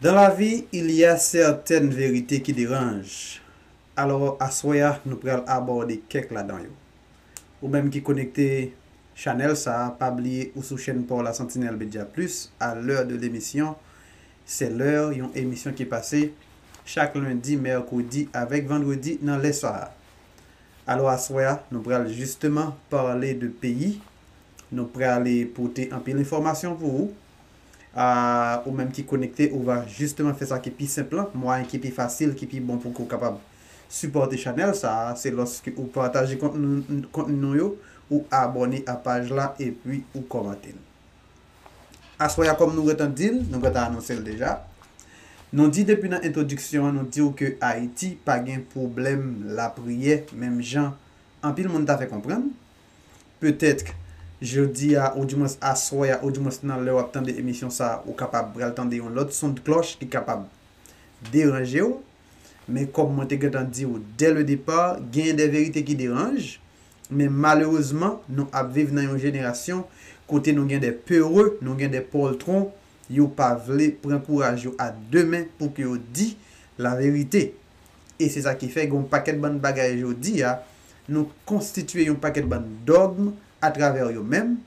Dans la vie il ya certaines vérités qui dérangent alors aswè a nou pral abòde kèk ladan yo. Ou menm ki konekte Chanel sa pa bliye ou sou chèn paw la Sentinelle Media Plus a l'heure de l'émission c'est l'heure yon emisyon ki pase chak lundi, mercredi avèk vendredi nan lè sa. Alors aswè a nou pral justement parler de pays Nou prale pote anpil enfòmasyon pou ou. Ahh ou menm ki konekte ou va jisteman fè sa ki pi senp lan, mwayen ki pi fasil, ki pi bon pou ke ou kapab sipòte chanèl sa a, se lòske ou pataje kontni nou yo, ou abòne a paj la epi ou kòmante l. Aswè a kòm nou gentan di l, nou gentan anonse l deja, nou di depi nan entwodiksyon an nou di w ke Ayiti pa gen pwoblèm lapriyè menm jan anpil moun ta fè konprann, Petètk, jodi a, oudimwens aswè a, oudimwens nan lè w ap tande emisyon sa a, ou kapab pral tande yon lòt sondklòch ki kapab deranje w. Men kòm mwen te gentan di w dè le depa, genyen de verite ki deranj. Men malerezman, nou ap viv nan yon jenerasyon kote nou gen de pere, nou gen de pòltwon, yo pa vle pran kouraj yo a de men pou ke yo di laverite. e se sa ki fè gen yon pakèt bann bagay jodi a nou konstitye yon pakèt bann dogm atravè yo menm,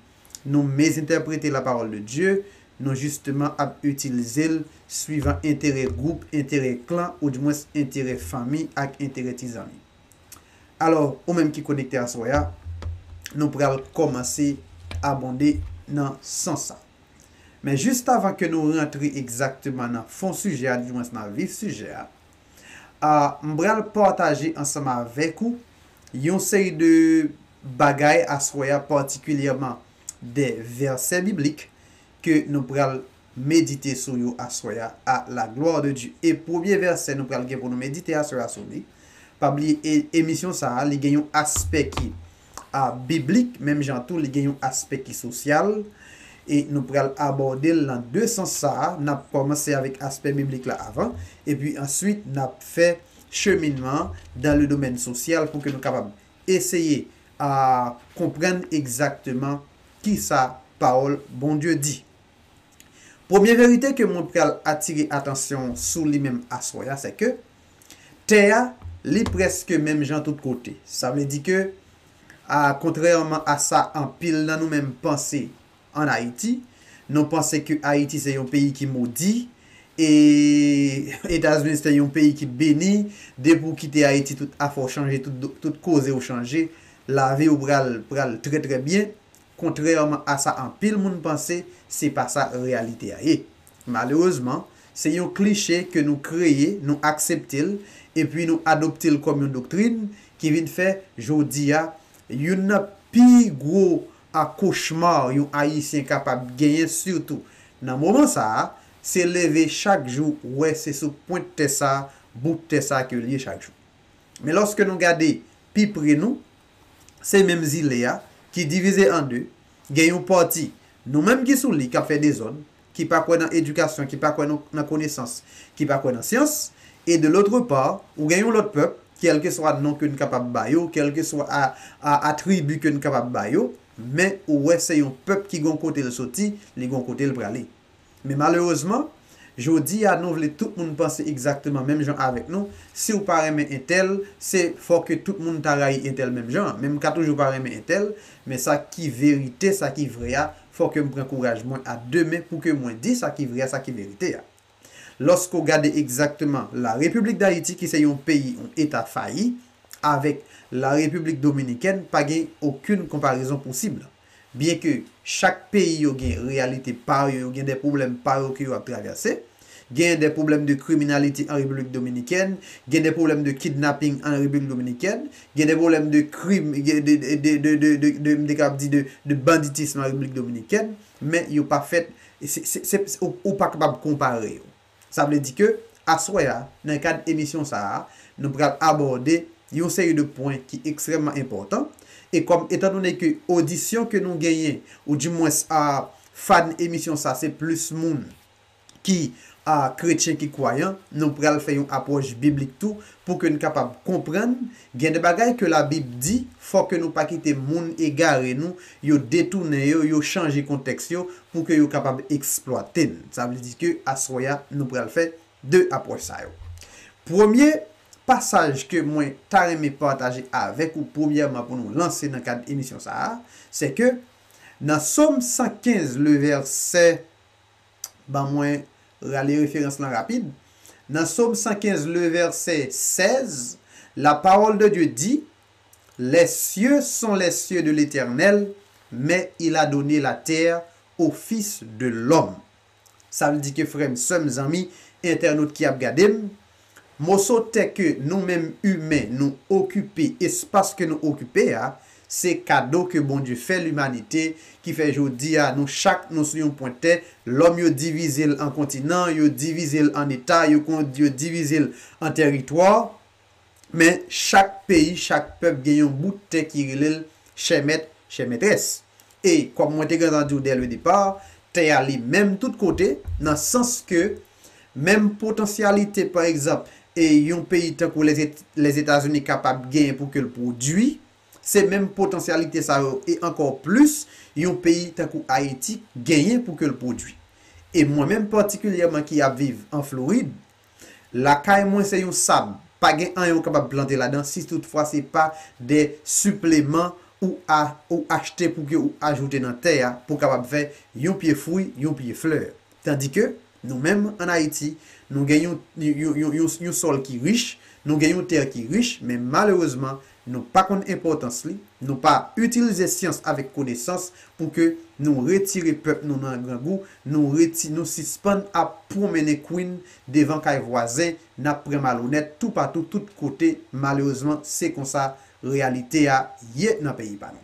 nou mezentèprete la parole de Dieu, nou jisteman ap itilze l swivan enterè gwoup, enterè klan ou di mwens enterè fanmi ak enterè ti zanmi. Alò, ou menm ki konekte aswè a, nou pral kòmanse abonde nan sans sa. Men jistavan ke nou rantre egzakteman nan fon sijè a di mwens nan vif sijè a, m pral pataje ansanm avèk ou yon seri de bagay aswè a, patikilyèman de vèsè biblik ke nou pral medite sou yo aswè a, a la glwa de Dye. E premye vèsè nou pral gen pou nou medite aswè a sou li, pa bliye emisyon sa a li gen yon aspè ki. a biblik, menm jan tou li gen yon aspè ki sosyal, e nou pral abòde l nan de sans sa a, n ap kòmanse avèk aspè biblik la avan, epi answit n ap fè cheminman an dan le domèn sosyal pou ke nou kapab eseye a konprann egzakteman ki sa pawòl Bondye di. Premye verite ke mwen pral atire atansyon w sou li menm aswè a, sè ke. Tè a, li prèske menm jan tout kote. Sa vle di ke, a kontrèman a sa anpil nan nou menm panse an Ayiti, nou panse ke Ayiti se yon peyi ki modi, e Etazini se yon peyi ki beni, depi ou kite Ayiti tout afè w chanje, tout koze w chanje, lavi w pral trè trè byen, Kontrèman a sa anpil moun panse, se pa sa reyalite a ye. Malerezman, se yon kliche ke nou kreye, nou aksepte l, epi nou adopte l kòm yon doktrin, ki vin fè, jodi a, youn nan pi gwo cauchemar yon Ayisyen kapab genyen sitou nan moman sa a, se leve chak jou wè se sou pwent tè sa, bout tè sa ke l ye chak jou. Men lòske nou gade pi pre nou, se menm zile a ki divize an 2, gen yon pati nou menm ki sou li k ap fè dezòd, ki pa kwè nan edikasyon, ki pa kwè nan konesans, ki pa kwè nan syans, e de lotre pa, ou gen yon lòt pèp, kèlkeswa non ke n kapab ba yo, kèlkeswa atribi ke n kapab ba yo, men ou wè se yon pèp ki gon kote l soti, li gon kote l prale. Men malerezman, jodi a nou vle tout moun panse egzakteman menm jan avèk nou, si w pa renmen entèl, se fò ke tout moun ta rayi entèl menm jan an. Men m ka toujou pa renmen entèl, men sa ki verite, sa ki vrè a, fò ke m pran kouraj mwen a de men pou ke mwen di sa ki vrè a, sa ki verite a. Lòske w gade egzakteman La Repiblik Dayiti ki se yon peyi, yon eta fayi, avèk La Repiblik Dominikèn, pa gen okenn konparezon posib. Byen ke chak peyi yo gen reyalite pa yo, yo gen de pwoblèm pa yo ke yo ap travèse. Gen de pwoblèm de kriminalite an Repiblik Dominikèn, gen de pwoblèm de kidnapping an Repiblik Dominikèn, gen de pwoblèm de krim, de, m te kapab di, de banditism an Repiblik Dominikèn, men yo pa fèt, se, se, se, ou pa kapab konpare yo. Sa vle di ke aswè a, nan kad emisyon sa a, nou pral abòde yon seri de pwen ki ekstrèmman enpòtan, e kòm etan done ke odisyon ke nou genyen, ou di mwens a fan emisyon sa se plis moun ki a kretyen, ki kwayan, nou pral fè yon apwòch biblik tou, pou ke n kapab konprann Gen de bagay ke la bib di fò ke nou pa kite moun egare nou yo detounen yo yo chanje kontèks yo pou ke yo kapab eksplwate n sa vle di ke aswè a nou pral fè 2 apwòch sa yo premye pasaj ke mwen ta renmen pataje avèk ou premyèman pou nou lanse nan kad emisyon sa a sè ke nan som 115 le vèsè Ban mwen rale referans lan rapid. Nan Som 115 le vèsè 16, la pawòl de Dye di, Les cieux sont les cieux de l'Etènèl, men il a donne la terre o fis de lòm. Sa vle di ke frè m, sè m, zanmi, entènot ki ap gade m, Moso tè ke nou menm imen nou okipe, espas ke nou okipe a, se kado ke Bondye fè limanite, ki fè jodi a nou chak nou sou yon pwent tè, lòm yo divize l an kontinan, yo divize l an eta, yo divize l an tèritwa, men chak peyi, chak pèp gen yon bout tè ki rele l chè mèt, chè mètrès. E, kòm mwen te gentan di w dè le depar, tè a li menm tout kote, nan sans ke Menm potansyalite, pa egzanp, e yon peyi tankou Lèzetazini kapab genyen pou ke l pwodui, se menm potansyalite sa yo, e ankò plis, yon peyi tankou Ayiti genyen pou ke l pwodui. E mwen menm patikilyèman ki ap viv an Florid, lakay mwen se yon sab, pa gen anyen ou kapab plante ladan si tout fwa se pa de sipleman ou ou achte pou ke ou ajoute nan tè a pou kapab fè yon pye fwi, yon pye flè. Tandi ke, nou menm, an Ayiti, nou gen yon, yon, yon, yon, yon sòl ki rich, nou gen yon tè ki rich, men malerezman, nou pa konn enpòtans li, nou pa itilize syans avèk konesans pou ke nou retire pèp nou nan grangou, nou reti, nou sispann ap pwonmennen kouin devan kay vwazen, n ap pran malonèt toupatou, tout kote, malerezman, se konsa reyalite a ye nan peyi pa nou.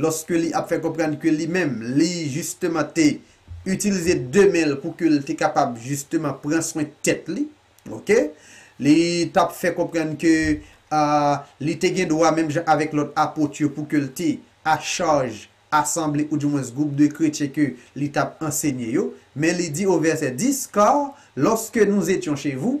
lòske li ap fè konprann ke li menm, li jisteman te itilize 2 men l pou ke l te kapab jisteman pran swen tèt li, ok. Li t ap fè konprann ke li te gen dwa menm jan avèk lòt Apot yo pou ke l te achaj asanble oudimwens gwoup de kretyen ke li t ap ansenye yo. Men li di o vèsè 10, Kar, lòske nou etyon che vou,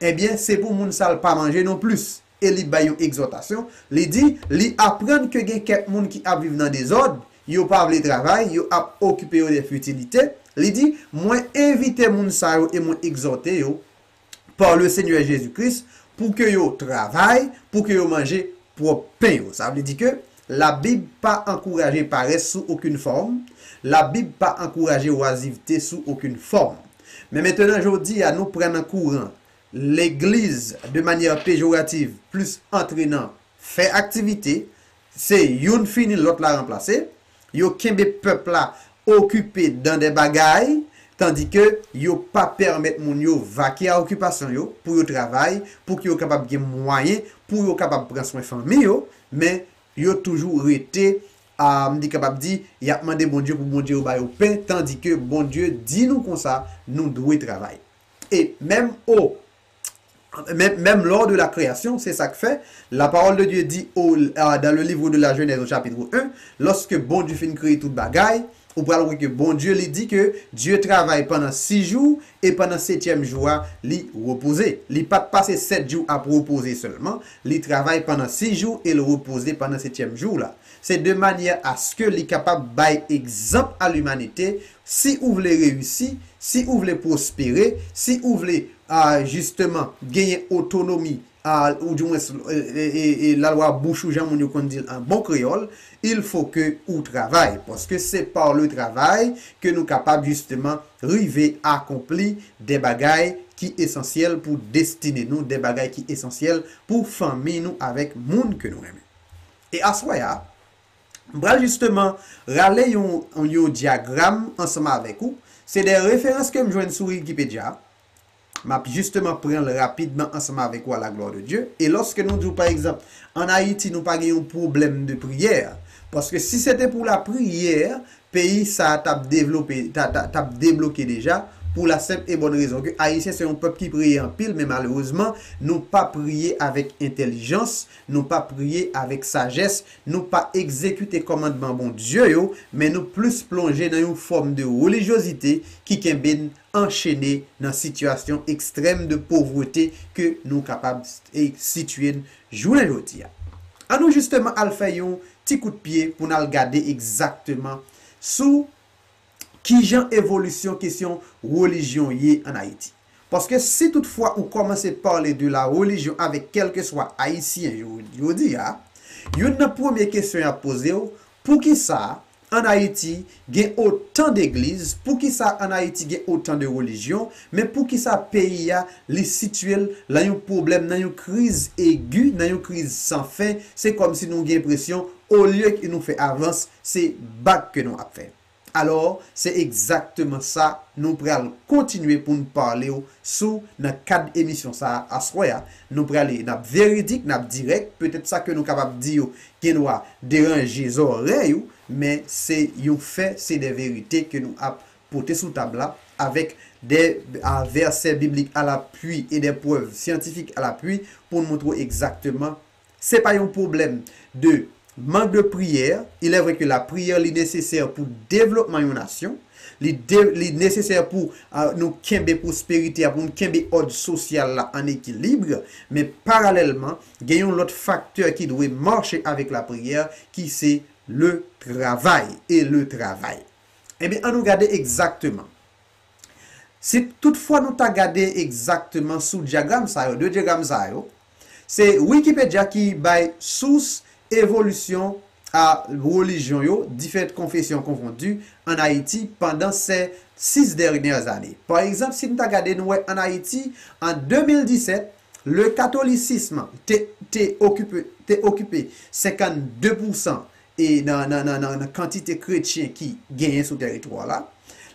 Ebyen, se pou moun sa l pa manje non plis. E li bay yon egzòtasyon, li di, Li aprann ke gen kèk moun ki ap viv nan dezòd, yo pa vle travay, yo ap okipe yo de fitilite. Li di, Mwen envite moun sa yo e mwen egzòte yo, pa Lesenyè Jezi Kris, pou ke yo travay, pou ke yo manje pwòp pen yo. Sa vle di ke, Labib pa ankouraje parès sou okenn fòm, Labib pa ankouraje wazivte sou okenn fòm. Men mentenan jodi a nou pran nan kouran legliz de manyè pejorativ plis antre nan fè aktivite, se youn fini lòt la ranplase, yo kenbe pèp la okipe dan de bagay tandi ke yo pa pèmèt moun yo vake a okipasyon yo pou yo travay pou ke yo kapab gen mwayen pou yo kapab pran swen fanmi yo, men yo toujou rete a m te kapab di y ap mande Bondye pou Bondye yo ba yo pen tandike Bondye di nou konsa nou dwe travay e menm o menm lò de la kreyasyon se sa k fè la pawòl de Dye di o dan le livre de la Genèse o chapitre 1 lòske Bondye fin kreye tout bagay ou pral wè ke Bondye li di ke Dye travay pandan 6 jou E pandan setyèm jou a, li repoze. Li pa t pase sèt jou ap repoze sèlman, li travay pandan sis jou e l repoze pandan setyèm jou la. Se de manyè aske li kapab bay egzanp a limanite, Si ou vle reyisi, si ou vle pwospere, si ou vle, a, jisteman, genyen otonomi Al, ou di mwens, lalwa bouch ou jan moun yo konn di l an bon kreyòl, il faut que ou travay, paske se par le travail ke nou kapab jisteman rive akonpli de bagay ki esansyèl pou destine nou, de bagay ki esansyèl pou fanmi nou avèk moun ke nou renmen. E aswè a, m pral jisteman rale yon yon dyagram ansanm avèk ou, se de referans ke m jwenn sou Wikipedya, Map justement pranl rapidman ansanm avèk ou à la gloire de Dieu. E lòske nou diw pa egzanp an Ayiti nou pa gen yon pwoblèm de priyè, paske si se te pou la priyè peyi sa tap devlope ta ta tap debloke deja pou la senp e bòn rezon ke Ayisyen se yon pèp ki priye anpil men malerezman nou pa priye avèk entèlijans, nou pa priye avèk sajès, nou pa egzekite kòmandman Bondye yo men nou plis plonje nan yon fòm de relijyozite ki kenbe n anchene nan sitiyasyon ekstrèm de povrete ke nou kapab sitiye n jounen jodi a. An nou jisteman al fè yon ti kout pye pou n al gade egzakteman sou kijan evolisyon kesyon relijyon ye an Ayiti. Paske si tout fwa ou kòmanse pale de la relijyon avèk kèlkeswa Ayisyen yo jodi a, youn nan premye kesyon y ap poze w, poukisa An Ayiti gen otan degliz poukisa an Ayiti gen otan de relijyon men poukisa peyi a li sitye l lan yon pwoblèm nan yon kriz egi nan yon kriz san fen se kòm si nou gen enpresyon olye ke nou fè avans se bak ke nou ap fè alò se egzakteman sa nou pral kontinye pou n pale w sou nan kad emisyon sa aswè a nou prale nap veridik nap dirèk petèt sa ke nou kapab di yo gendwa deranje zòrèy ou men se yon fè se de verite ke nou ap pote sou tab la avèk de a vèsè biblik alapwi e de prèv syantifik alapwi poun moutre w egzakteman Se pa yon pwoblèm de mank de priyè. Il est vrai que la prière li nesesè pou devlopman yon nasyon, li de, li nesesè pou nou kenbe pwosperite a, pou nou kenbe òd sosyal la an ekilibre, men paralèlman, gen yon lòt faktè ki dwe mache avèk la priyè ki se le travay e le travay. Ebyen an nou gade egzakteman. Si tout fwa nou ta gade egzakteman sou dyagram sa yo, 2 dyagram sa yo, se Wikipedya ki bay sous evolisyon a relijyon yo, diferent konfesyon konfondi, an Ayiti pandan sè 6 dèryè ane. Pa egzanp, si nou ta gade nou wè an Ayiti, an 2017, le katolisism te okipe te okipe 52 pousan e nan kantite kretyen ki genyen sou tèritwa la.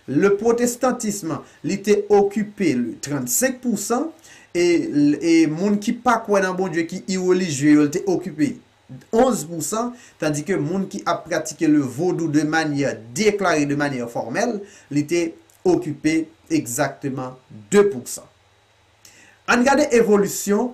Le pwotestantism li te okipe le 35 pousan e moun ki pa kwè nan Bondye ki irelijye yo li te okipe 11 pousan tandi ke moun ki ap pratike le vodou de manyè deklare de manyè fòmèl li te okipe egzakteman 2 pousan. Ann gade evolisyon.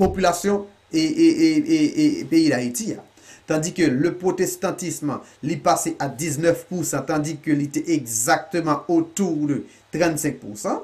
popilasyon peyi Dayiti a. Tandi ke le pwotestantism li pase a 19 pousan tandi ke li te egzakteman autour de 35 pousan.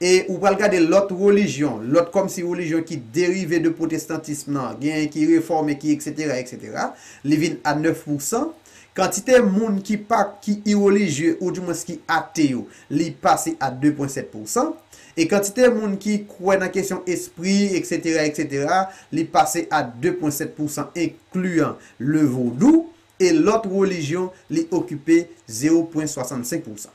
E ou pral gade lòt relijyon, lòt kòm si relijyon ki derive de pwotestantism nan, genyen ki refòme ki eksetera eksetera, li vin a 9 pousan. Kantite moun ki pa ki irelijye ou di mwens ki ate yo li pase a 2 pwen 7 pou san e kantite moun ki kwè nan kesyon espri eksetera eksetera li pase a 2 pwen 7 pou san enkliyan le vodou e lòt relijyon li okipe 0 pwen 65 pou san.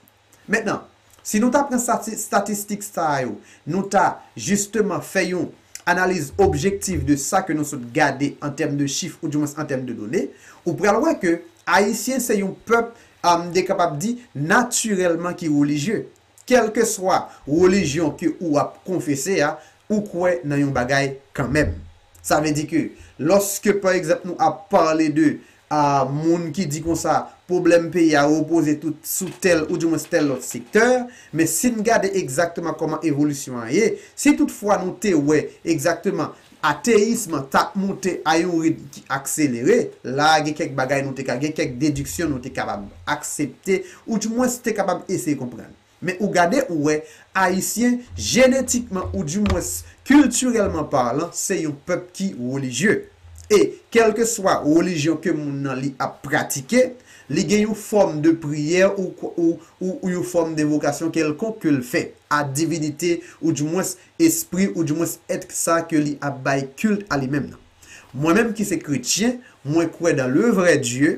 Mentnan, si nou ta pran statistik sa yo, nou ta, jisteman, fè yon analiz objektif de sa ke nou sot gade an tèm de chif ou di mwens an tèm de done, ou pral wè ke Ayisyen se yon pèp, m te kapab di, natirèlman ki relijye. Kèlkeswa relijyon ke ou ap konfese a, ou kwè nan yon bagay kanmenm. Sa vle di ke, lòske pa egzanp nou ap pale de Ahh moun ki di konsa pwoblèm peyi a repoze tout sou tèl ou di mwens tèl lòt sektè, men si n gade egzakteman kòman evolisyon an ye, si tout fwa nou te wè egzakteman ateyism an t ap moute a yon ritm ki akselere, la a gen kèk bagay nou te ka gen kèk dediksyon nou te kapab aksepte ou di mwens te kapab eseye konprann. Men ou gade ou wè, Ayisyen, jenetikman ou di mwens kiltirèlman parlan, se yon pèp ki relijye. E, kèlkeswa relijyon ke moun nan li ap pratike, li gen yon fòm de priyè ou ou ou yon fòm devokasyon kèlkonk ke l fè a divinite ou di mwens espri ou di mwens ètk sa a ke li ap bay kilt a li menm nan. Mwen menm ki se kretyen, mwen kwè dan le vrè Dye,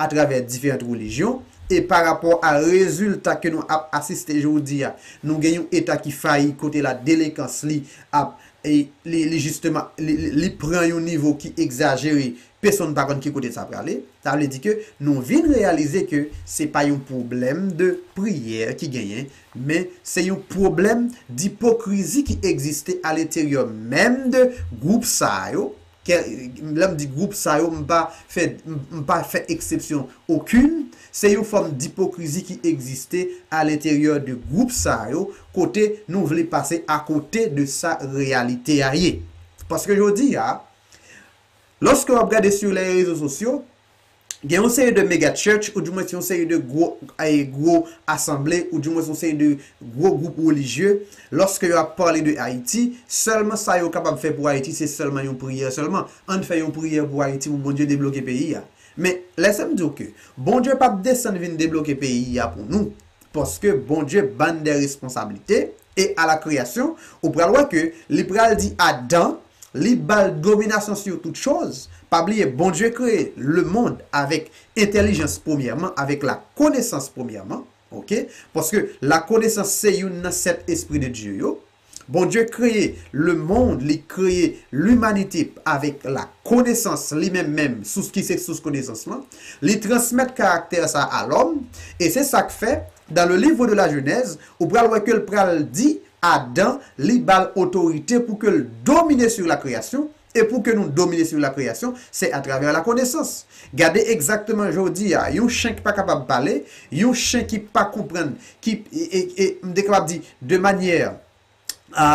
atravè diferant relijyon, e pa rapò a rezilta ke nou ap asiste jodi a, nou gen yon eta ki fayi kote la delenkans li ap li jisteman li pran yon nivo ki egzajere, pesonn pa konn ki kote sa prale. Sa vle di ke nou vin reyalize ke se pa yon pwoblèm de priyè ki genyen, men se yon pwoblèm dipokrizi ki egziste aleteryò menm de gwoup sa yo, kè, lè m di gwoup sa yo m pa fè m pa fè eksepsyon okun, se yon fòm dipokrizi ki egziste alenteryè de gwoup sa yo kote nou vle pase akote de sa reyalite a ye. Paske jodi a, lòske w ap gade sur les réseaux sociaux, Gen yon seri de mega church ou di mwens yon seri de gwo gwo asanble ou di mwens yon seri de gwo gwoup relijye loske yo ap pale de Ayiti sèlman sa yo kapab fè pou Ayiti se sèlman yon priyè sèlman ann fè yon priyè pou Ayiti pou Bondye debloke peyi a men lè sèm diw ke Bondye pap desann vin debloke peyi a pou nou Paske Bondye bann de responsablite e a la kreyasyon ou pral wè ke li pral di Adan li bal dominasyon sur tout choz, pa bliye Bondye kreye le mond avèk entèlijans premyèman avèk la konesans premyèman ok paske la konesans se youn nan 7 espri de Dye yo Bondye kreye lemond li kreye limanite avèk la konesans li menm menm sous ki se sous konesans lan li transmèt karaktè sa a lòm e se sak fè dan le livre de la jenèz ou pral wè kel pral di adan li bal otorite pou kel domine sur la kreyasyon E pou ke nou domine sou lakreyasyon, se atravè lakonesans. Gade egzakteman jodi a, yon chen ki pa kapab pale, yon chen ki pa konprann, ki, e, e, m te kapab di, de manyè a,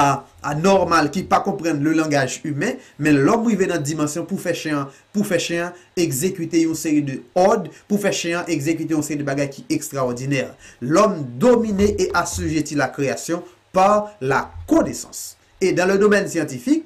a, nòmal, ki pa konprann le langaj imen, men lòm rive nan dimansyon pou fè chen an, pou fè chen an egzekite yon seri de òd, pou fè chen an egzekite yon seri de bagay ki ekstraòdinè. Lòm domine e assujetti lakreyasyon par la connaissance. E dan le domèn syantifik,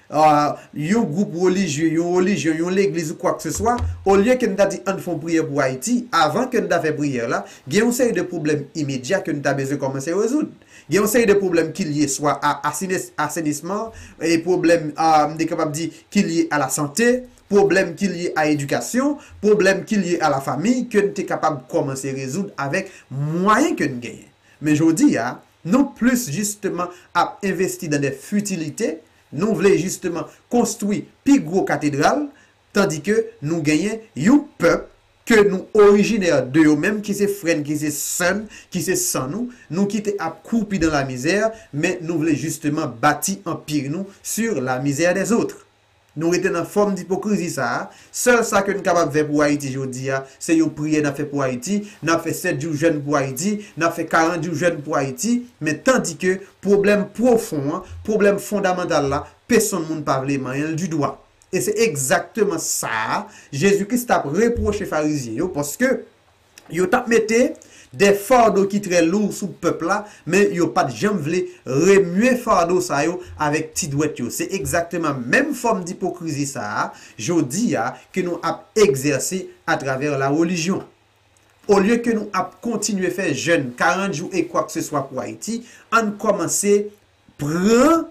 yon gwoup relijye, yon relijyon, yon legliz ou kwakseswa, olye ke n ta di ann fè yon priyè pou Ayiti, avan ke n ta fè priyè la, gen yon seri de pwoblèm imedya ke n ta bezwen kòmanse rezoud. Gen yon seri de pwoblèm ki lye swa a asenisman, pwoblèm, m te kapab di, ki lye a la sante, pwoblèm ki lye a edikasyon, pwoblèm ki lye a la famiy ke n te kapab kòmanse rezoud avèk mwayen ke n genyen. Men jodi a, Nou plis jisteman ap envesti dan dè fitilite, nou vle jisteman konstwi pi gwo katedral, tandi ke nou genyen yon pèp ke nou orijinè de yo menm ki se frè n, ki se sè n, ki se san nou, nou kite ap kwoupi dan lamizè, men nou vle jisteman bati anpir nou sur la misère des autres. Nou rete nan fòm dipokrizi sa a, sèl sa ke n kapab fè pou Ayiti jodi a, se yon priyè n ap fè pou Ayiti, n ap fè 7 jou jèn pou Ayiti, n ap fè 40 jou jèn pou Ayiti, men tandike pwoblèm pwofon an, pwoblèm fondamantal la, pesonn moun pa vle manyen l didwa. E se egzakteman sa a Jezi Kris t ap repwoche Farizyen yo, paske. Yo tap mete de fardo ki trè lou sou pèp la, men yo pat janm vle remye fardo sa yo avèk ti dwèt yo. Se egzakteman menm fòm dipokrizi sa a, jodi a, ke nou ap egzèse atravè la relijyon. Olye ke nou ap kontinye fè jèn 40 jou e kwakseswa pou Ayiti, ann kòmanse pran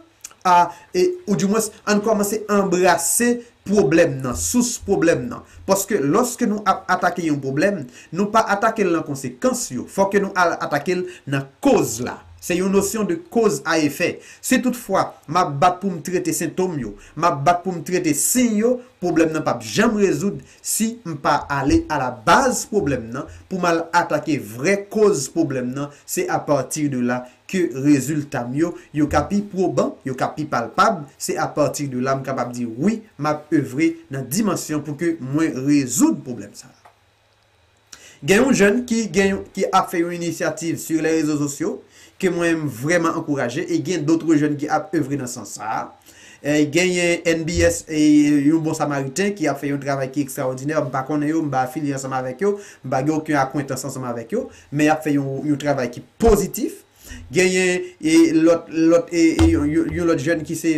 a e ou di mwens ann kòmanse anbrase pwoblèm nan, sous pwoblèm nan. Paske lòske nou ap atake yon pwoblèm, nou pa atake l nan konsekans yo, fò ke nou al atake l nan koz la. Se yon nosyon de koz a efè. Si tout fwa m ap bat pou m trete sentom yo, m ap bat pou m trete siy yo, pwoblèm nan p ap janm rezoud si m pa ale a la baz pwoblèm nan pou m al atake vrè koz pwoblèm nan, se a pati de la ke rezilta m yo, yo ka pi pwoban, yo ka pi palpab, se a pati de la m kapab di wi m ap evre nan dimansyon pou ke mwen rezoud pwoblèm sa a. Gen yon jèn ki gen yon ki ap fè yon inisyativ sur les réseaux sociaux ke mwen m vrèman ankouraje e gen d'autres jeunes ki ap evre nan sans sa a. Genyen NBS e yon bon samariten ki ap fè yon travay ki ekstraòdinè, m pa konnen yo, m pa afilye ansanm avèk yo, m pa gen oken akwentans ansanm avèk yo, men yap fè yon travay ki pozitif genyen lòt lòt yon lòt jèn ki se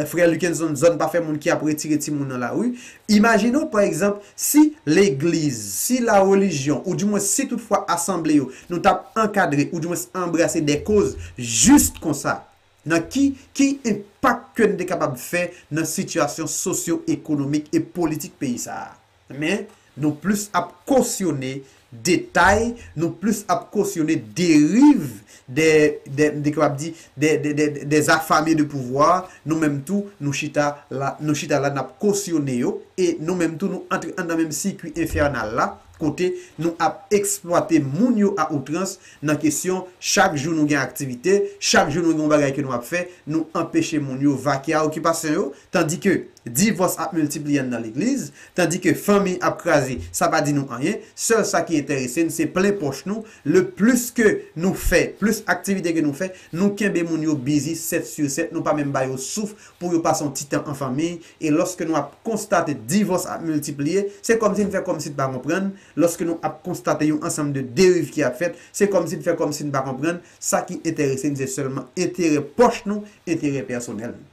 frè Luckenson zòn pa fè moun ki ap retire timoun nan lari imajine w pa egzanp si legliz si la relijyon ou di mwens si tout fwa asanble yo nou tap ankadre ou di mwens anbrase de koz jis konsa nan ki ki enpak ke n te kapab fè nan sitiyasyon sosyo ekonomik e politik peyi sa a. Men, nou plis ap kosyone detay, nou plis ap kosyone deriv de, de, m te kapab di, de, de, de, des affamés de pouvoir, nou menm tou, nou chita la, nou chita la n ap kosyone yo, e nou menm tou nou antre anndan menm sikui enfènal la, kote nou ap eksplwate moun yo a outrans nan kesyon chak jou nou gen aktivite, chak jou nou gen yon bagay ke nou ap fè, nou anpeche moun yo vake a okipasyon yo, Tandike divòs ap miltipliye nan legliz, tandike fanmi ap kraze, sa pa di nou anyen, sèl sa ki enterese n se plen pòch nou, le plis ke nou fè, plis aktivite ke nou fè, nou kenbe moun yo bizi 7 su 7, nou pa menm ba yo souf pou yo pase yon ti tan an fanmiy, e lòske nou ap konstate divòs ap miltipliye, se kòmsi n fè kòmsi n pa konprann, lòske nou ap konstate yon ansanm de deriv ki ap fèt, se kòmsi n fè kòmsi n pa konprann, sa ki enterese n se sèlman enterè pòch nou, enterè pèsonèl nou.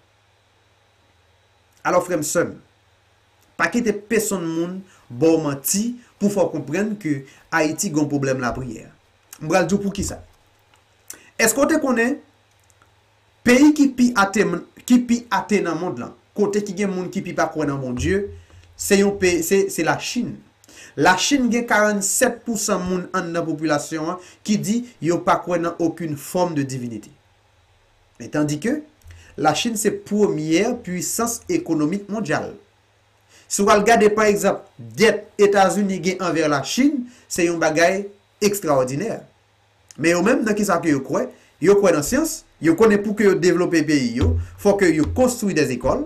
Alò frè m sè m, pa kite pesonn moun ba w manti pou fè w konprann ke Ayiti gen yon pwoblèm lapriyè. M pral di w poukisa. Èske w te konnen peyi ki pi ate ki pi ate nan mond lan, kote ki gen moun ki pi pa kwè nan Bondye, se yon peyi se se Lachin. Lachin gen 47 pousan moun anndan popilasyon an ki di yo pa kwè nan okin fòm de divinite. Men tandike, Lachin se premyè puisans ekonomik mondyal. Si w al gade pa egzanp dèt Etazini gen anvè Lachin, se yon bagay ekstraòdinè. Men yo menm nan kisa ke yo kwè? Yo kwè nan syans, yo konnen pouke yo devlope peyi yo, fò ke yo konstwi dè zekòl,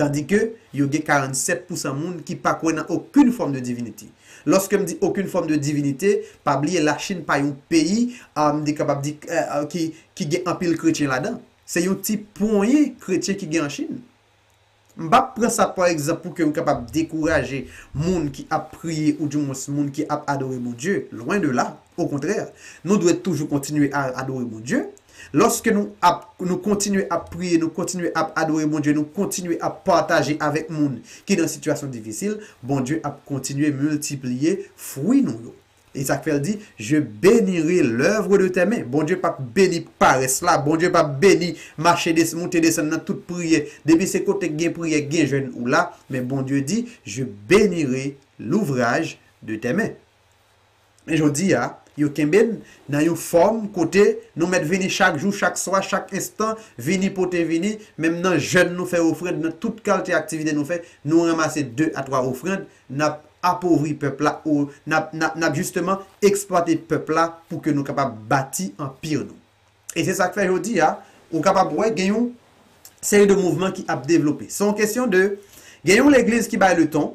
Tandi ke yo gen 47 pousan moun ki pa kwè nan okoun fòm de divinite. Lòske m di okoun fòm de divinite, pa bliye la Chinn pa yon peyi a m te kapab di ki ki gen anpil kretyen ladan. Se yon ti ponyen kretyen ki gen an Chinn. M pa pran sa pou egzanp pou ke m kapab dekouraje moun ki ap priye ou di mwens moun ki ap adore Bondye. Lwen de la. Okontrè, nou dwe toujou kontinye a adore Bondye. Lòske nou ap nou kontinye ap priye, nou kontinye ap adore Bondye, nou kontinye ap pataje avèk moun ki nan sitiyasyon difisil, Bondye ap kontinye miltipliye fwi nou yo. E sa k fè l di, Je benire lèvre de tè men. Bondye pap beni parès la, Bondye pap beni mache des moute desann nan tout priye. Depi se kote k gen priye, k gen jèn ou la, men Bondye di, Je benire louvraj de tè men. Men jodi a, yo kenbe n nan yon fòm kote nou mèt vini chak jou, chak swa, chak enstan, vini pote vini, menm nan jèn nou fè ofrand, nan tout kalte aktivite nou fè, nou ranmase de a twa ofrand, n ap apovri pèp la, o n ap n ap jisteman eksplwate pèp la pou ke nou kapab bati anpir nou. E se sa k fè jodi a, ou kapab wè gen yon seri de mouvman ki ap devlope. Se yon kesyon de gen yon legliz ki bay leton,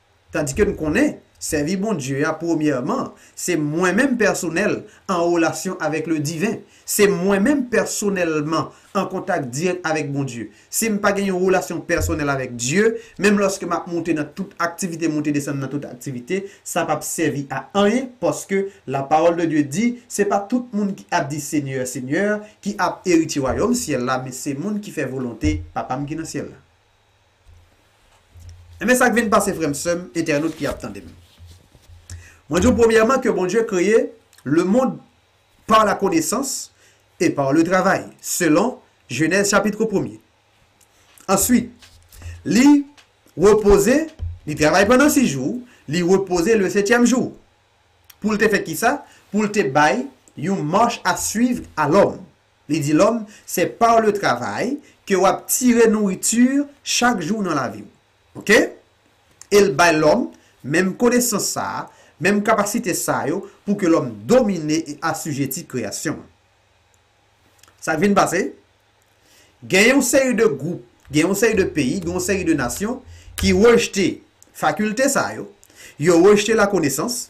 Tandike n konnen, sèvi Bondye a premyèman, se mwen menm pèsonèl an relasyon avèk le diven. Se mwen menm pèsonèlman an kontak dirèk avèk Bondye. Si m pa gen yon relasyon pèsonèl avèk Dye, menm lòske m ap moute nan tout aktivite, moute desann nan tout aktivite, sa p ap sèvi a anyen, paske la pawòl de Dye di, se pa tout moun ki ap di Senyè, Senyè, ki ap eritye wayòm syèl la, men se moun ki fè volonte Papa m ki nan syèl la. Enben sak vin pase frèm sèm entènot ki ap tandem mwen diw premyèman ke Bondye kreye lemond par la konesans e par le travay selon jenèz chapitre premye answit li repoze li travay pandan sis jou li repoze le setyèm jou poul te fè kisa poul te bay yon mach a swiv a lòm Li di lòm, Se par le travail ke wap tire nourriture chak jou nan lavi w. Ok? E l bay lòm menm konesans sa a, menm kapasite sa yo pou ke lòm domine e assujetti kreyasyon an. Sa k vin pase? Gen yon seri de gwoup, gen yon seri de peyi, gen yon seri de nasyon ki rejte fakilte sa yo, yo rejte lakonesans,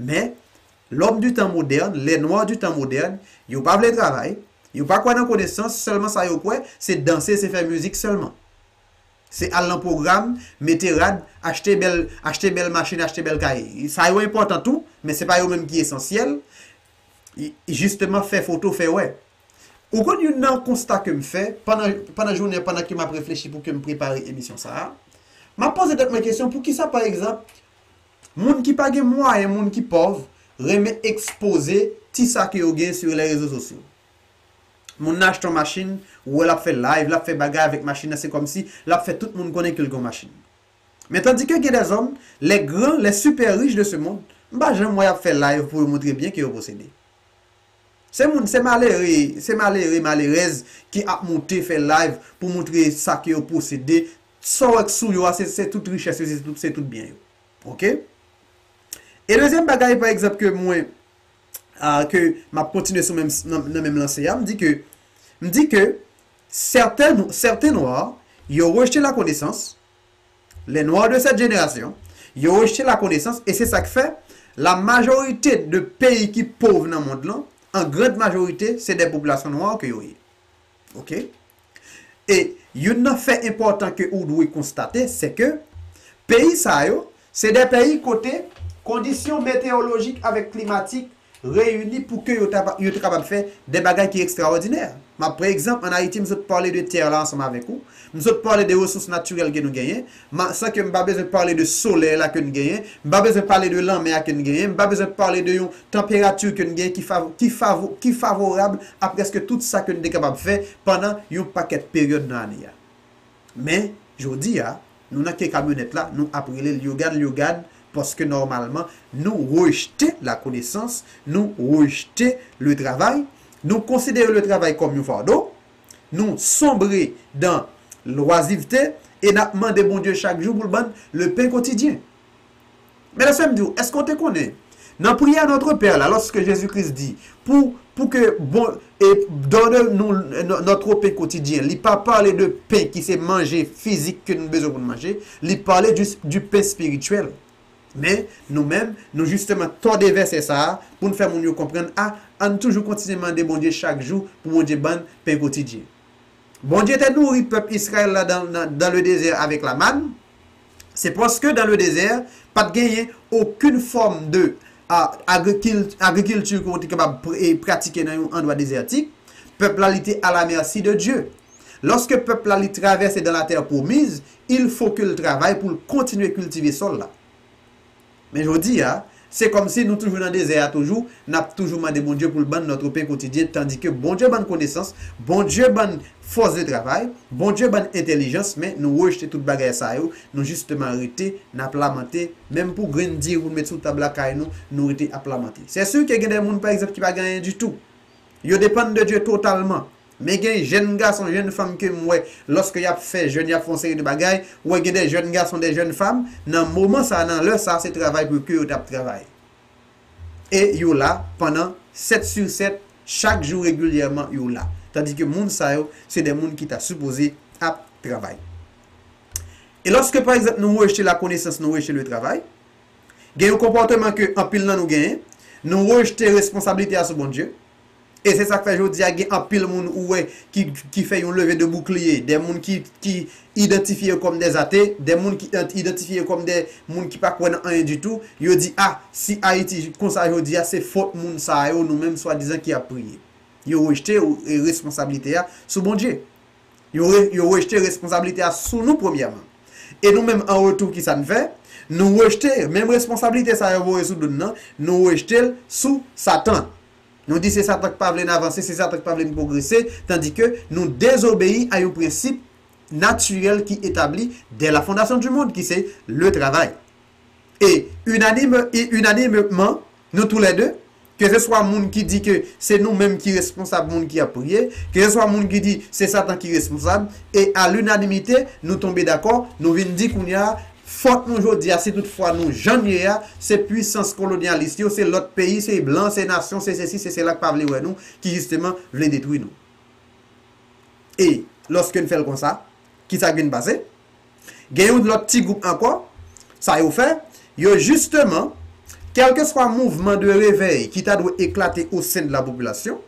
Men, lòm di tan modèn, lè nwa di tan modèn, yo pa vle travay, yo pa kwè nan konesans, sèlman sa yo kwè, se danse, se fè mizik sèlman. Se al nan pwogram, mete rad, achte bèl, achte bèl machin, achte bèl kay. Sa yo enpòtan tou, men se pa yo menm ki esansyèl. Jisteman fè foto, fè wè. Ou konn youn nan konsta ke m fè, pandan, pandan jounen an, pandan ke m ap reflechi pou ke m prepare emisyon sa a, m ap poze tèt mwen kesyon, poukisa pa egzanp, Moun ki pa gen mwayen, moun ki pòv, renmen ekspoze ti sa ke yo gen sur les réseaux sociaux. Moun nan achte yon machin, ou wè l ap fè live, l ap fè bagay avèk machin nan, se kòmsi l ap fè tout moun konnen ke l gen yon machin. Men tandike gen des hommes, les grands, les super riches de ce monde, m pa janm wè y ap fè live pou yo montre byen ke yo posede. Se moun, se malere, se malere, malerèz ki ap monte fè live pou montre sa ke yo posede, Saw wè k sou yo a se se tout richès yo se tout se tout byen yo ok e dezyèm bagay pa egzanp ke mwen a ke map kontinye sou menm nan menm lanse a m di ke m di ke sèten nou sèten nwa yo rejte lakonesans les noirs de cette génération yo rejte lakonesans e se sa k fè la majorite de peyi ki pov nan mond lan an grand majorite se des population noir ke yo ye Ok. E youn nan fè enpòtan ke ou dwe konstate se ke peyi sa yo se de peyi kote kondisyon meteyolojik avèk klimatik reyini pou ke yo te kapab fè de bagay ki ekstraòdinè. M ap pre egzanp, an Ayiti m sot pale de tè la ansanm avèk ou, m sot pale de resous natirèl ke nou genyen, Ma, san ke m pa bezwen pale de solèy la ke n genyen, m pa bezwen pale de lanmè a ke n genyen, m pa bezwen pale de yon tanperati ke n genyen ki fav, ki fav, ki favorab a prèske tout sa ke n te kapab fè pandan yon pakèt peryòd nan ane a. Men, jodi a, nou nan ke kamyonèt la, nou ap rele Lyogan Lyogan, paske nòmalman, nou rejte lakonesans, nou rejte le travay, nou konsidere le travay kòm yon fardo, Nou sonbre dan lwazivte e n ap mande Bondye chak jou pou l ban n lepen kotidyen. Men lèsè m di w, èske w te konnen nan priyè Notre Père la lòske Jezi Kris di pou pou ke bon e donne nous notre pain quotidien li pa pale de pen ki se manje fizik ke nou bezwen pou n manje, li pale di di pen spirityèl. Men, nou menm, nou jisteman tòde vèsè sa a pou n fè moun yo konprann a ann toujou kontinye mande Bondye chak jou pou Bondye ban n pen kotidyen. Bondye te nouri pèp Israël la dan dans le désert avec la manne, se paske dans le désert pa t genyen okenn fòm de agrikilti ke w te kapab pratike nan yon andwa dezètik, pèp la li te à la merci de Dieu. Lòske pèp la li travèse dans la terre promise, Il faut ke l travay pou l kontinye kiltive sòl la. Men jodi a, se kòmsi nou toujou nan dezè a toujou, n ap toujou mande Bondye pou l ban n notre pain quotidien tandike Bondye ban n konesans, Bondye ban n fòs de travay, Bondye ban n entèlijans men nou rejte tout bagay sa yo, nou jisteman rete n ap lamante, menm pou grenn diri pou n met sou tab lakay nou, nou rete ap lamante. Sè si ke gen dè moun pa egzanp ki pa gen anyen ditou. Yo depann de Dye totalman. Men gen jèn gason, jèn fanm ke m wè lòske y ap fè jèn, y ap fè yon seri de bagay, ou wè gen de jèn gason, de jèn fanm, nan moman sa a, nan lè sa a, se travay pou yo ke yo t ap travay. E yo la pandan 7 sur 7, chak jou regilyèman yo la. Tandi ke moun sa yo, se de moun ki ta sipoze ap travay. E lòske pa egzanp nou rejte lakonesans, nou rejte letravay, gen yon konpòteman ke anpil nan nou genyen, nou rejte responsablite a sou Bondye, E se sa k fè jodi a gen anpil moun ou wè ki fè yon leve de boukliye, de moun ki idantifye yo kòm dè ate, de moun ki idantifye yo kòm dè moun ki pa kwè nan anyen ditou, yo di a, si Ayiti konsa jodi a se fot moun sa yo nou menm swadizan ki ap priye. Yo rejte responsablite a sou Bondje. Yo rejte responsablite a sou nou premyèman. E nou menm an retou ki sa n fè? Nou rejte menm responsablite sa yo voye sou do n nan, nou rejte l sou Satan. Nou di se Satan k pa vle n avanse, se Satan k pa vle n pwogrese, tandike nou dezobeyi a yon prensip natirèl ki etabli dè la fondasyon di mond ki se le travay. e inanimemman, nou tou lè de, ke se swa moun ki di ke se nou menm ki responsab moun ki ap priye, ke se swa moun ki di se satan ki responsab, e a linanimite, nou tonbe dakò, nou vin di kounya a, fòt nou jodi a, si tout fwa nou jan n ye a, se pwisans kolonyalis yo, se lòt peyi, se blan, se nasyon, se sesi, se sela k pa vle wè nou, ki jisteman vle detwi nou. E, lòske n fè l konsa, kisa k vin pase? Gen yon lòt ti gwoup ankò, sa yo fè, yo jisteman, kèlkeswa mouvman de revèy ki ta dwe eklate osen de lapopilasyon,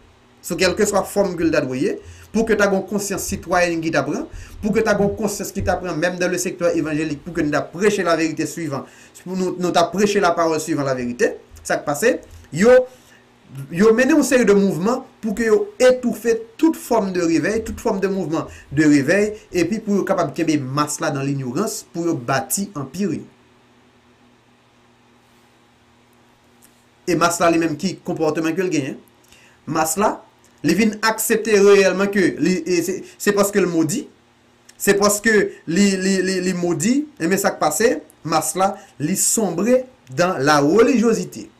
sou kèlkeswa fòm ke l ta dwe ye, pou ke ta gon konsyans sitwayèn ki ta pran, pou ke ta gon konsyans ki ta pran menm dan le sektè evanjelik pou ke nou ta preche laverite swivan, nou ta preche lapawòl swivan laverite, sa k pase, yo. Yo mennen yon seri de mouvman pou ke yo etoufe tout fòm de revèy, tout fòm de mouvman de revèy, epi pou yo kapab kenbe mas la dan linyorans pou yo bati anpir yo. E mas la li menm ki konpòteman ke l genyen? Mas la, li vin aksepte reyèlman ke li, se paske l modi, se paske li, li, li, li modi, enben sa k pase? Mas la, li sonbre dan larelijyozite.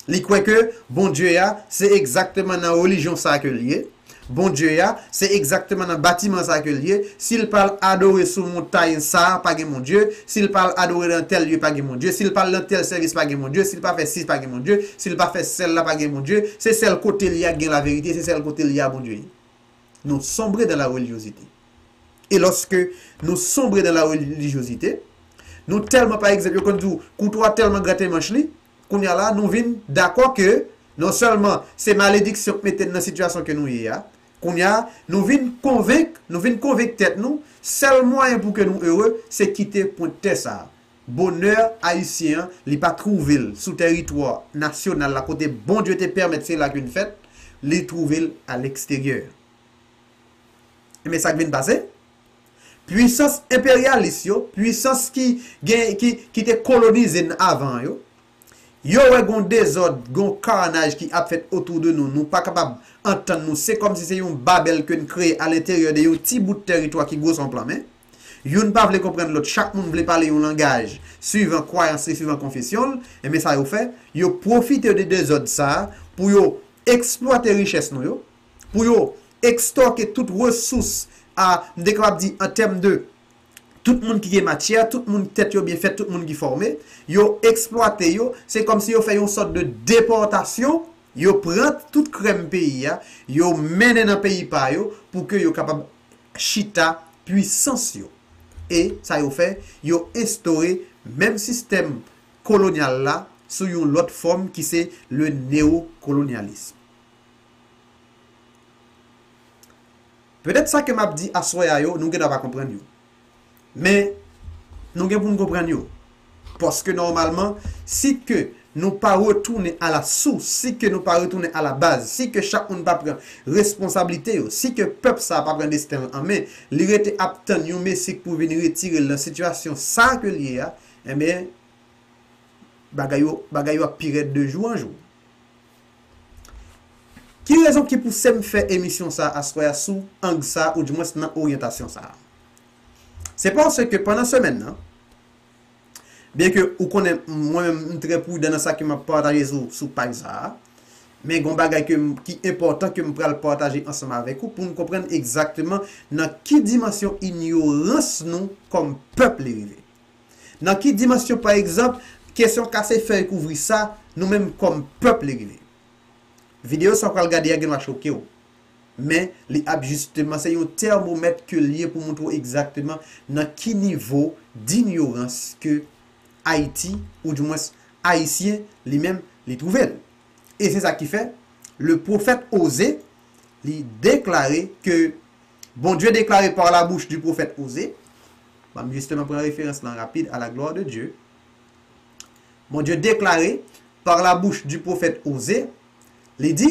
Li kwè ke Bondye a se egzakteman nan relijyon sa ke l ye, Bondye a se egzakteman nan batiman sa ke l ye, si l pa al adore sou montay sa pa gen Bondye, si l pa al adore nan tèl lye pa gen Bondye, si l pa al nan tèl sèvis pa gen Bondye, si l pa fè si pa gen Bondye, si l pa fè sèl la pa gen Bondye, se sèl kote li a ki gen laverite, se sèl kote li a Bondye ye. nou sombre dans la religiosite. E loske nou sombre dans la religiosite, nou telman pa egzanp, yo konn di w, kouto a telman grate manch li, kounye a la nou vin dako ke non selman se malediksyon k mete n nan sitiyasyon ke nou ye a, kounye a nou vin konvenk, nou vin konvenk tet nou, sel mwayen pou ke nou ere, se kite pwent tè sa a. Bonè Ayisyen an, li pa twouve l sou tèritwa nasyonal la kote Bondye te pèmèt se la k vin fèt, li twouve l aleksteryè. Enben sa k vin pase? Pwisans enperyalis yo, pwisans ki gen, ki, ki te kolonize n avan yo, yo wè gon dezòd, gon karnaj ki ap fèt otou de nou, nou pa kapab antann nou, se kòmsi se yon Babèl ke n kreye alenteryè de yon ti bout tèritwa ki gwo s on plan men. Youn pa vle konprann lòt, chak moun vle pale yon langaj suivan kwayans li, suivan konfesyon l, enben sa yo fè, yo pwofite de dezòd sa a pou yo eksplwate richès nou yo, pou yo ekstòke tout resous a, m te kapab di an tèm de tout moun ki gen matyè, tout moun k tèt yo byen fèt, tout moun ki fòme, yo eksplwate yo, se kòm si yo fè yon sòt de depòtasyon, yo pran tout krèm peyi a, yo mennen nan peyi pa yo pou ke yo kapab chita pwisans yo e sa yo fè yo enstore menm sistèm kolonyal la sou yon lòt fòm ki se le neocolonialisme. Petèt sa ke m ap di aswè a yo nou gen dwa pa konprann yo, Men, nou gen pou n konprann yo. Paske nòmalman, si ke nou pa retounen a la sous, si ke nou pa retounen a la baz, si ke chak moun pa pran responsablite yo, si ke pèp sa a pa pran desten l an men, li rete ap tann yon mesi k pou vin retire l nan sitiyasyon sa a ke l ye a, enben, bagay yo, bagay yo ap pi rèd de jou an jou. Ki rezon ki pouse m fè emisyon sa a aswè a sou ang sa a, oudimwens nan oryantasyon sa a? Se paske pandan semèn nan, byenke ou konnen mwen menm m trè prudan nan sa ke m ap pataje sou paj sa a, men gen yon bagay ke m, ki enpòtan ke m pral pataje ansanm avèk ou pou nou konprann egzakteman nan ki dimansyon inyorans nou kòm pèp li rive. Nan ki dimansyon pa egzanp, kesyon kase fèy kouvri sa, nou menm kòm pèp li rive. Videyo sa ou pral gade a gen dwa choke ou. Men, li ap jisteman, se yon tèrmomèt ke l ye pou montre w egzakteman nan ki nivo dinyorans ke Ayiti, ou di mwens Ayisyen li menm, li twouve l. E se sa ki fè, le pwofèt Oze, li deklare ke Bondye deklare par la bouch du pwofèt Oze, ban m jisteman pran referans lan rapid, a la glwa de Dye, Bondye deklare par la bouch du pwofèt Oze, li di,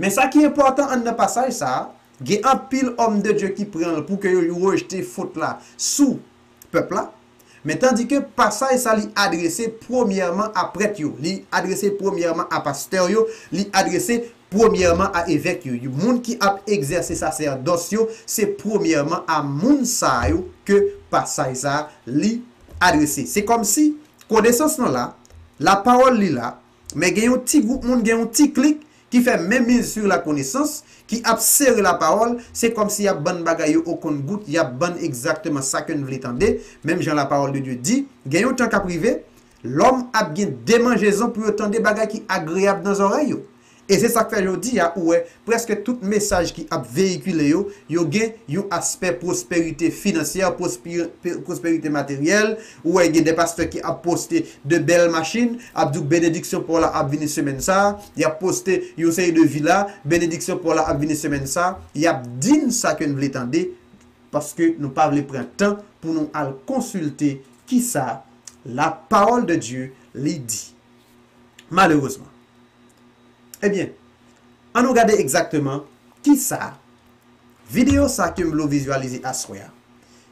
Men sa ki enpòtan an nan pasaj sa a, gen anpil òm de Dye ki pran l pou ke yo rejte fot la sou pèp la, men tandike pasaj sa li adrese premyèman a prèt yo, li adrese premyèman a pastè yo, li adrese premyèman a evèk yo, moun ki ap egzèse sasèdòs yo, se premyèman a moun sa yo ke pasaj sa a li adrese. Se kòmsi konesans lan la, lapawòl li la, Men gen yon ti gwoup moun, gen yon ti klik ki fè men mise sur la connaissance, ki ap sere la pawòl, se kòm si y ap ban n bagay yo o konn gout, y ap ban n egzakteman sa ke n vle tande, menm jan la parole de Dieu di, gen yon tan k ap rive, lòm ap gen demanjezon pou yo tande bagay ki agreyab nan zòrèy yo. E se sa k fè jodi a ou wè prèske tout mesaj ki ap veyikile yo, yo gen yon aspè pwosperite finansyè, pwosperite materyèl, Ou wè gen de pastè ki ap poste de bèl machin, ap di w benediksyon paw la ap vini semèn sa, yap poste yon seri de vila, benediksyon paw la ap vini semèn sa, yap di n sa ke n vle tande, paske nou pa vle pran tan pou nou al konsilte kisa la parole de Dieu li di. Malerezman. Ebyen, an nou gade egzakteman kisa videyo sa ke m vle w vizualize aswè a.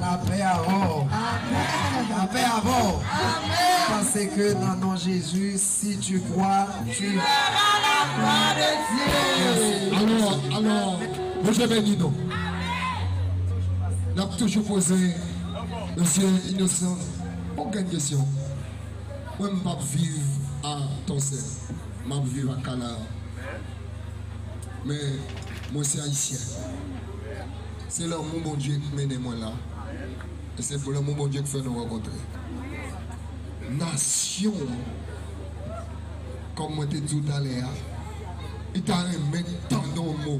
Lapè avèw lapè avèw pase ke nan non Jezi si tu kwa tu vèra la glwa de Dye alò alò Bondye beni nou nap toujou poze mesye inosan yon grenn kesyon mwen m pap viv a tòsè map viv a kanaran men mwen se ayisyen. Se lanmou Bondye ki mennen mwen la e se lanmou Bondye ki fè nou rankontre. Nasyon an, kòm mwen te di w talè a, li ta renmen tande yon mo,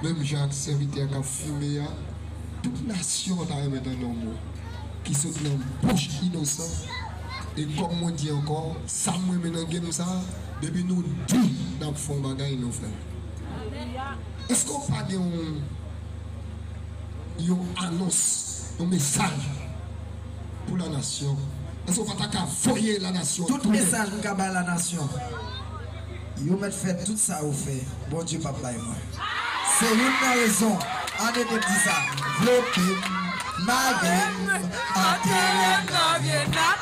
menm jan ak sèvitè k ap fime a, tout nasyon an ta renmen tande yon mo ki sot nan bouch Inosan. E kòm mwen di ankò, sa m renmen nan game sa a, depi nou di n ap fè yon bagay, nou fè l. Eske w pa gen yon yon anons, yon mesaj pou la nasyon? Eske w pa ta ka voye la nasyon an tounen? Tout mesaj m ka bay la nasyon, yo mèt fè tout sa yo fè, Bondye pap bay mwen. Se youn nan rezon an ede m di sa. Vlope m, mare m, antere m nan vye nat.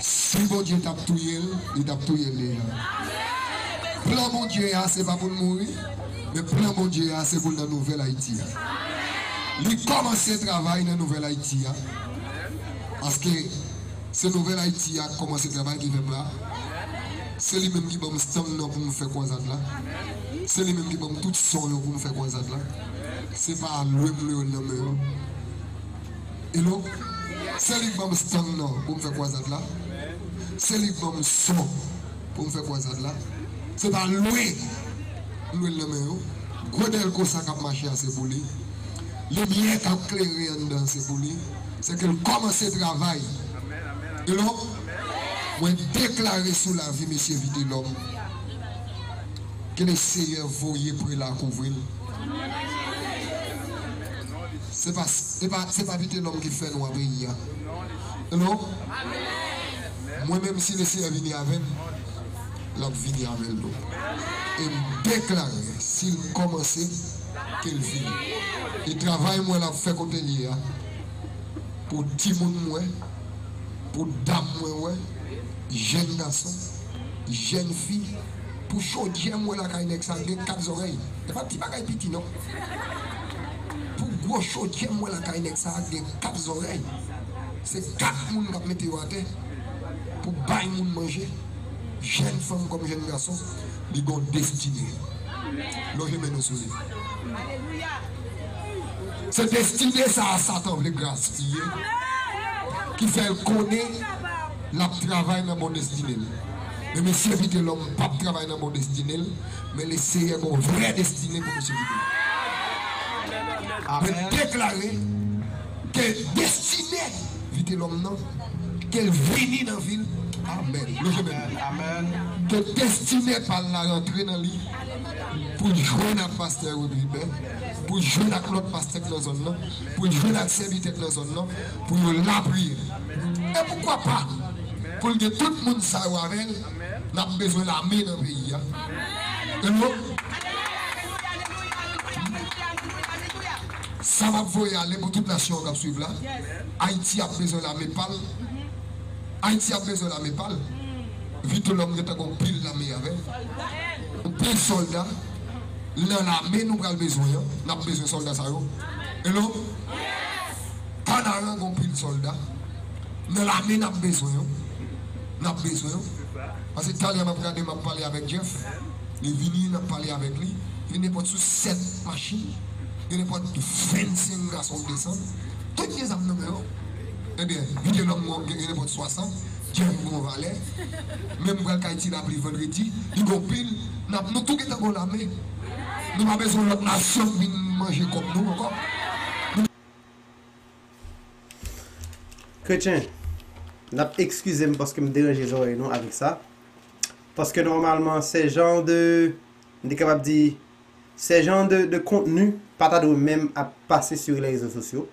Si Bondye tap touyel li tap touyel deja plan Bondye a se pa poul mouri men plan Bondye a se poul nan nouvèl Ayiti a li kòmanse travay nan nouvèl Ayiti a paske se nouvèl Ayiti a kòmanse travay ki fèm la se li menm ki banm stang nan poum fè kwazad la se li menm ki banm tout son yo poum fè kwazad la se pa lwem lwe nan men yo. Hello Se li k ban m stang nan pou m fè kwazad la Se li k ban m son pou m fè kwazad la Se pa lwe m lwe l nan men yo Gwo dèlko sa k ap mache a se pou li Limyè k ap klere anndan an se pou li Se ke l kòmanse travay Hello Mwen deklare sou lavi mesye Vitelòm Ke Leseyè voye prela kouvri l. Se pa Vitelòm ki fè nou an peyi an Hello Mwen menm si Lesyè vini avè m l ap vini avè l tou E m deklare si l kòmanse ke l fini E travay mwen l ap fè kote l ye a Pou timoun m wè Pou dam mwen wè Jèn gason Jèn fi pou chodyè m wè lakay nèg sa gen 4 zòrèy e pa ti bagay piti non pou gwo chodyè m wè lakay nèg sa gen 4 zòrèy se 4 moun kap mete yo atè pou bay moun manje jèn fanm kòm jèn gason li gon destine lonje men nou sou li se destine sa a satan vle graspiye ki fèl konnen. Lap travay nan bon destine l. Men mesye vitelom pap travay nan bon destine l men le seyè gon vrè destine pou mesye vitelom mwen deklare ke destine vitelom nan kel vini nan vil amen mesye menm ke destine pal la rantre nan li poul jwenn ak pastè Rudliben poul jwenn ak lot pastè k nan zòn nan poul jwenn ak sèvitè k nan zòn nan pou yo lapriyè. E poukwa pa pou l gen tout moun sa yo avè l, n ap bezwen lame nan peyi a. Sa m ap voye ale pou tout nasyon an k ap swiv la, Ayiti ap bezwen lame pa l, Ayiti ap bezwen lame pa l, Vitelòm gen tan gen yon pil lame avè l, yon pil sòlda, nan lame nou pral bezwen an, n ap bezwen sòlda sa yo. Kanaran gon pil solda nan lame nap bezwen yo nap bezwen yo pase talè map gade map pale avek Jeff li vini nap pale avek li gen nenpot sou 7 machin gen nenpot 25 gason k desann tout gen zam nan men yo ebyen vitelom gon gen nenpot 60 Jeff gon valè men m pral kay ti lapli vendredi li gon pil nap nou tou gentan gon lame nou pa bezwen lot nasyon k vin manje kob nou anko nou Kretyen, n ap ekskize m paske m deranje zòrèy nou avèk sa, paske nòmalman se jan de, m te kapab di, se jan de kontni pa ta dwe menm ap pase sou rezo sosyo.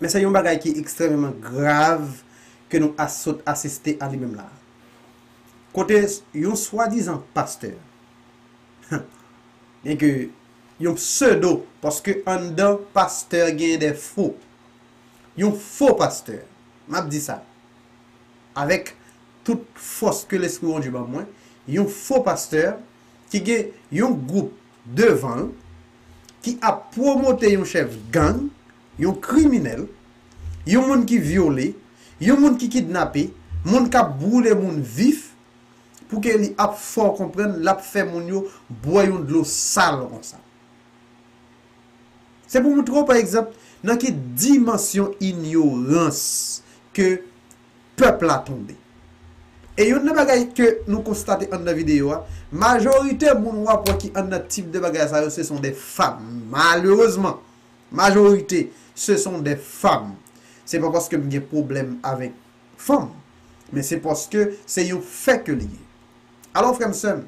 Men se yon bagay ki ekstrèmeman grav ke nou a sot asiste a li menm la a. Kote yon swadizan pastè, byenke, Yon pseudo paske anndan pastè gen de fo. Yon fo pastè. M ap di sa avèk tout fòs ke Lespri Bondye ban mwen, yon fo pastè ki gen yon gwoup devan l ki ap pwomote yon chèf gang, yon kriminèl, yon moun ki vyole, yon moun ki kidnape, moun k ap boule moun vif, Pou Kelly ap fè w konprann lap fè moun yo bwè yon dlo sal konsa. Se pou moutre w pa egzanp nan ki dimansyon inyorans ke pèp la tonbe. E youn nan bagay ke nou konstate anndan videyo a, majorite moun wap wè ki anndan tip de bagay sa yo se son de fam. Malerezman, majorite se son de fam. Se pa paske m gen pwoblèm avèk. Fanm, men se paske se yon fè ke li ye. Alò frè m sè m,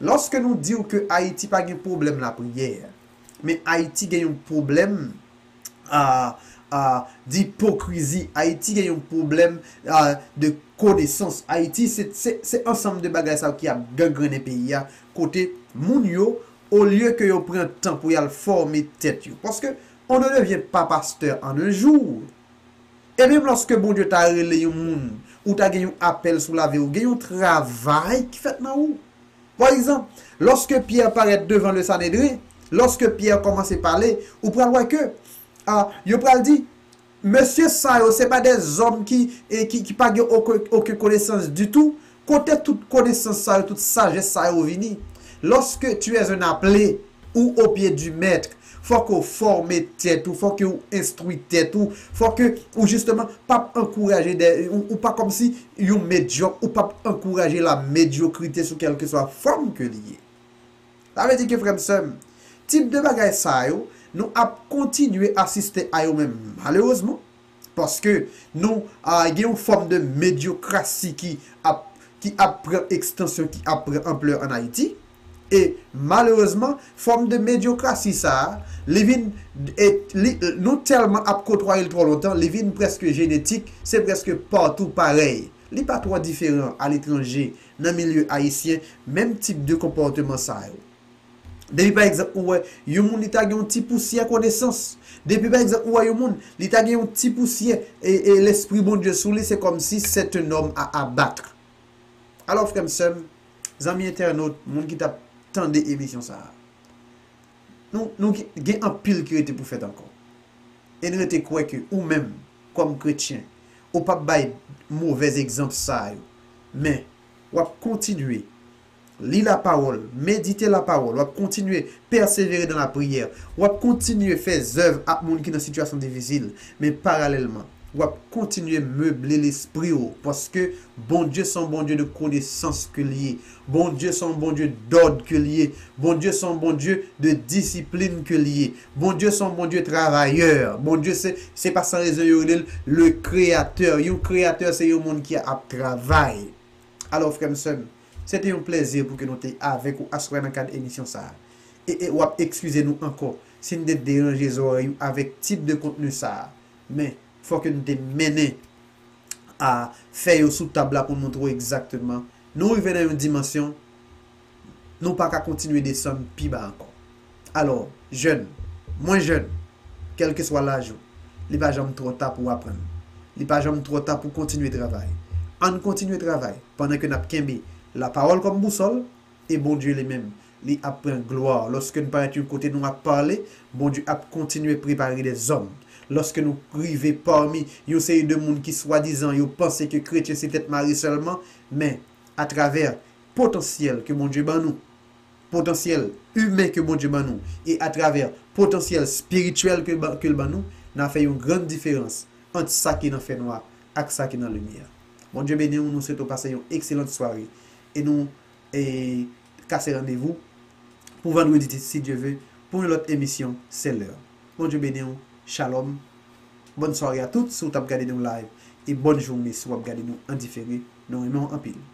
lòske nou di w ke Ayiti pa gen pwoblèm lapriyè, men Ayiti gen yon pwoblèm a, a, dipokrizi, Ayiti gen yon pwoblèm a, de konesans, Ayiti se, se, se ansanm de bagay sa yo ki ap gangrennen peyi a, kote moun yo, olye ke yo pran tan pou y al fòme tèt yo, paske on ne devient pas pasteur en un jour. E menm lòske Bondye ta rele yon moun, ou ta gen yon apèl sou lavi ou, gen yon travay ki fèt nan ou. Pa egzanp, lòske Pyè parèt devan le Sanedren, lòske Pyè kòmanse pale, ou pral wè ke, a, yo pral di, Mesye sa yo se pa de zòm ki, ki pa gen oken konesans ditou, Kote tout konesans sa yo, tout sajès sa yo vini? Lorsque tu es un appelé ou au pied du maître, fò ke w fòme tèt ou, fò ke w enstwi tèt ou, fò ke ou justement pap ankouraje dè, ou pa kòm si yon medyòk, ou pap ankouraje la mediocrite sou kèlkeswa fòm ke li ye. Sa vle di ke frè m, sè m, tip de bagay sa yo, nou ap kontinye asiste a yo men malerezman, Paske nou gen yon fòm de medyokrasi ki ap ki ap pran ekstansyon, ki ap pran anplè an Ayiti. E malerezman, fòm de medyokrasi sa a, li vin e li nou tèlman ap kotwaye l twò lontan, li vin prèske jenetik, se prèske patou parèy. Li pa twò diferan aletranje, nan milye ayisyen, menm tip de konpòteman sa yo. Depi pa egzanp ou wè yon moun li ta gen yon ti pousyè konesans, depi pa egzanp ou wè yon moun li ta gen yon ti pousyè e lespri Bondye sou li se kòmsi c'est un homme à abattre. Alò frè m, sè m, zanmi entènot, moun ki tap tande emisyon sa a, nou nou gen anpil ki rete pou fèt ankò. E n rete kwè ke ou menm kòm kretyen ou pap bay movèz egzanp sa yo men wap kontinye Li lapawòl, medite lapawòl, wap kontinye pèsevere nan lapriyè, wap kontinye fè zèv ak moun ki nan sitiyasyon difisil, men paralèlman, wap kontinye meble lespri ou, paske Bondye se yon Bondye de konesans ke li ye, Bondye se yon Bondye dòd ke li ye, Bondye se yon Bondye de disiplin ke li ye, Bondye se yon Bondye travayè, Bondye se, se pa san rezon yo rele l le kreyatè, yon kreyatè se yon moun ki ap travay. Alò frè m sè m, se te yon plèzi pou ke nou te avèk ou aswè a nan kad emisyon sa a. E e w ap ekskize nou ankò si n te deranje zòrèy ou avèk tip de kontni sa a. Men, fò ke n te mennen a fè yo sou tab la pou n montre w egzakteman nou rive nan yon dimansyon, nou pa ka kontinye desann pi ba ankò. Alò, jèn, mwen jèn, kèlkeswa laj ou, li pa janm twò ta pou aprann. Li pa janm twò ta pou kontinye travay. Ann kontinye travay pandan ke n ap kenbe Lapawòl kòm bousòl, e Bondye Li menm, Li ap pran glwa lòske n parèt yon kote nou ap pale, Bondye ap kontinye prepare dèzòm. Lòske nou rive pami yon seri de moun ki swadizan yo panse ke kretyen se tèt mare sèlman, men, atravè potansyèl ke Bondye ban nou, potansyèl imen ke Bondye ban nou, e atravè potansyèl spirityèl ke l ban nou, n a fè yon gran diferans ant sa ki nan fènwa ak sa ki nan limyè. Bondye beni w, nou swete w pase yon ekselant sware, e nou kase randevou pou vandredi si Dye ve pou yon lòt emisyon se lè. Bondye beni w, Shalom, bòn sware a tout si w t ap gade nou live, e bòn joune si w ap gade nou an difere, nou renmen w anpil.